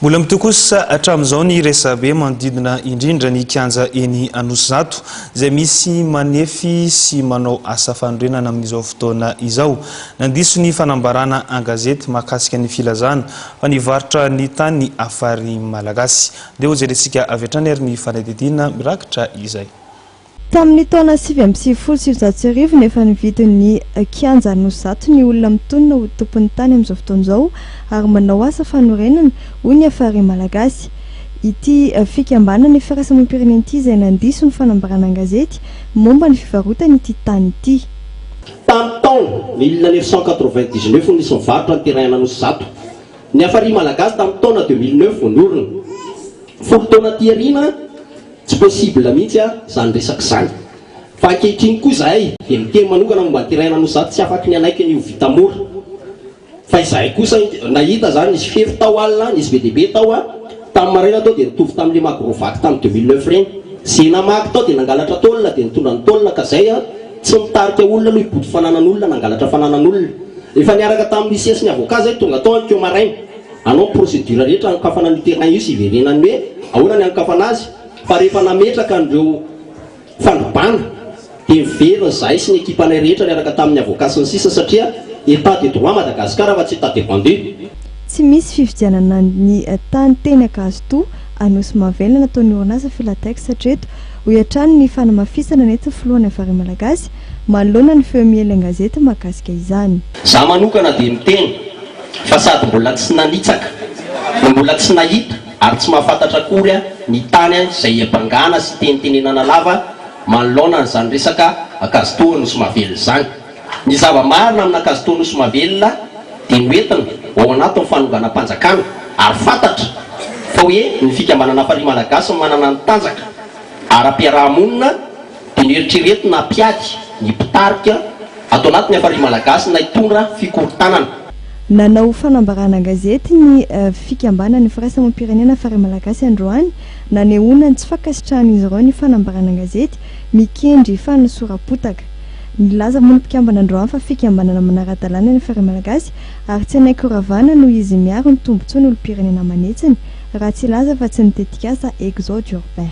Mbola mitohy kosa hatramin'izao ny resabe manodidina indrindra ny kianja eny Anosizato izay misy manefy sy manao asa fanorenana amin'izao fotoana izao. Nandiso ny fanambarana an-gazety mahakasika ny filazana fa nivarotra ny tany ny Afary Malagasy. Andeha hojerentsika avy hatrany ary ny fanadihadiana mirakitra izay. Tamin'ny taona sivy amby sivifolo sy sivinjato sy arivo no efa nividin'ny Kianja Anosizato ny olona mitonona ho tompon'ny tany amin'izao fotoana izao ary manao asa fanorenana, hoy ny Afare Malagasy. Ity fikambanana Ifiraisamampirenen ity izay nandiso ny fanambarana an-gazety momba ny fivarotany ity tany ity. Tamin'ny taona mille neuf cent quatre-vingt-dix-neuf no nisy nivarotra ny terrain an'Anosizato ny Afare Malagasy tamin'ny taona deux mille neuf vao niorina. Folo taona aty aoriana, Tsy possible mihitsy a zany resaka zany. Fa ankehitriny koa izahay dia miteny manokana momba ny terrain-na no sady tsy afaky ny hanaiky an'io vita mora. Fa izahay kosa nahita izany nisy fefy tao alina, nisy be dia be tao a. Tamin'ny maraina tao dia nitovy tamin'ilay Magrovac tamin'ny deux mille neuf ireny. Izay namaky tao dia nangalatra tôle dia nitondra ny tôle ka izay a. Tsy mitarika olona aloha hibodo fananan'olona, nangalatra fananan'olona. Efa niaraka tamin'ny huissier sy ny avocat izahay tonga tao anikeo maraina. Hanao ny procédure rehetra hanokafana an'io terrain io sy hiverenany hoe ahoana ny hanokafana azy fa rehefa nametraka an'ireo fanibàna dia miverina izahay sy ny ekipanay rehetra niaraka tamin'ny avocat sy ny sisa satria état de droit Madagascar fa tsy état de vendu. Tsy misy fividianana ny tany teny Ankazotoa, Anosimahavelona nataon'ny orinasa Filatex hatreto, hoy hatrany ny fanamafisana nentin'ny filoha ny Havare Malagasy manoloana ny feo miely an-gazety mahakasika izany. Za manokana dia miteny. fa sady mbola tsy nanitsaka no mbola tsy nahita ary tsy mahafantatra akory ny tany izay hiabangana sy hitenitenenana lava manoloana an'izany resaka Ankazotoa Nosy Mavelona izany. Ny zava-marina amina Ankazotoa Nosy Mavelona dia noentina ho ao anatin'ny fanonganam-panjakana ary fantatra fa hoe ny Fikambanana Farihy Malagasy no manana ny tanjaka ara-piaraha-monina Dia nieritrereto na mpiady ny mpitarika ato anaty ny Hafari Malagasy na hitondra fikorontanana. Nanao fanambarana an-gazety ny fikambanan'ny firaisamoam-pirenena Hafari Malagasy androany, nanehoana ny tsy fankasitrahan'izy ireo ny fanambarana an-gazety mikendry fanosoram-potaka. Nilaza moa ny mpikambana androany fa fikambanana manara-dalàna ny Hafari Malagasy ary tsy hanaiky horavana noho izy miaro ny tombontsoan'olom-pirenena aman'hetsiny raha tsy hilaza fa tsy ny tetikasa Exode urbain.